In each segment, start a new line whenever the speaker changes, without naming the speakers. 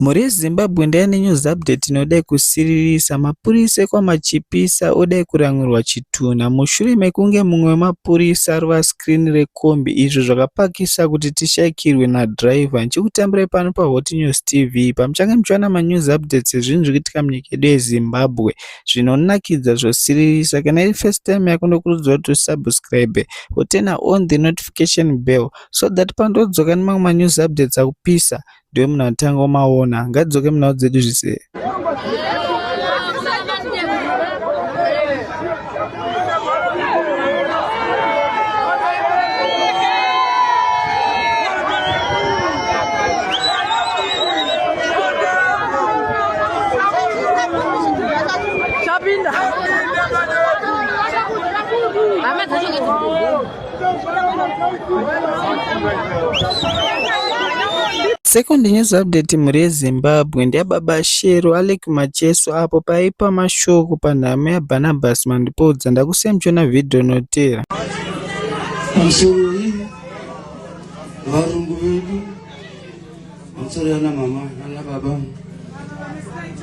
Mhuri yeZimbabwe ndaya nenews update inodai kusiririsa, mapurisa ekwaMachipisa odai kuran'urwa chitunha mushure mekunge mumwe wemapurisa arova screen rekombi izvo zvakapakisa kuti tishaikirwe nadriver. Ndichikutambirai pano paHot News TV pamuchange muchiwana manews updates ezvinhu zviri kuitika munyika yedu yeZimbabwe zvinonakidza zvosiririsa. Kana iri first time yako ndokurudzira kuti usubscribe woturner on the notification bell so that pandodzoka nemamwe manews updates akupisa ndiwe munhu atanga umaona ngadzoke munhau dzedu zvise Chapinda. Chapinda. Second news update mhuri yeZimbabwe ndeyababa Shero Alec Macheso apo paipa mashoko panhamo yaBarnabas Mandipodza ndakusiya muchiona vhidhiyo inotera.
Pamusoro iyi varungu vedu pamusoro yana mama nana baba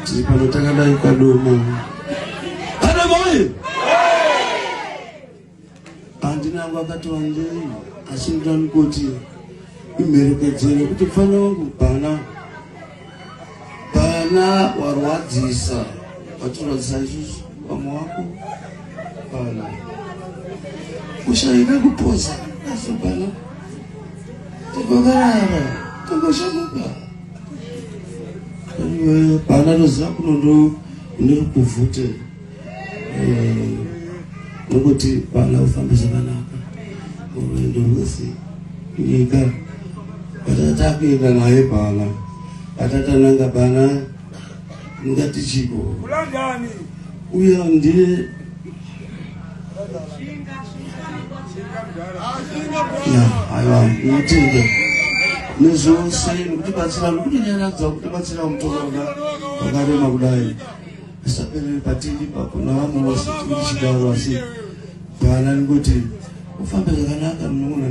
tiri pano takadai kadoma. Adamai! Pandina wangu akati wandei asi ndani kuti imherekedzere kuti mfana wangu bana bana warwadzisa watirwadzisa isusu vamwe wako bana ushaida kupoza asi bana takakarara takashamuka bana toziva kunondo ndiri kuvhutera eh, nokuti vana ufambe zvakanaka urwendo rwese nyika vatata kuenda naye bana vatata nanga bana ngati chiko uya ndiye aiwa mutende nezvose nekuti batsira nekuti nyaradza kuti batsira mutorona vakarema kudai Asaperere patindi ipapo navamwe vose tichidaro asi bhana ningoti ufambe zvakanaka mnun'una.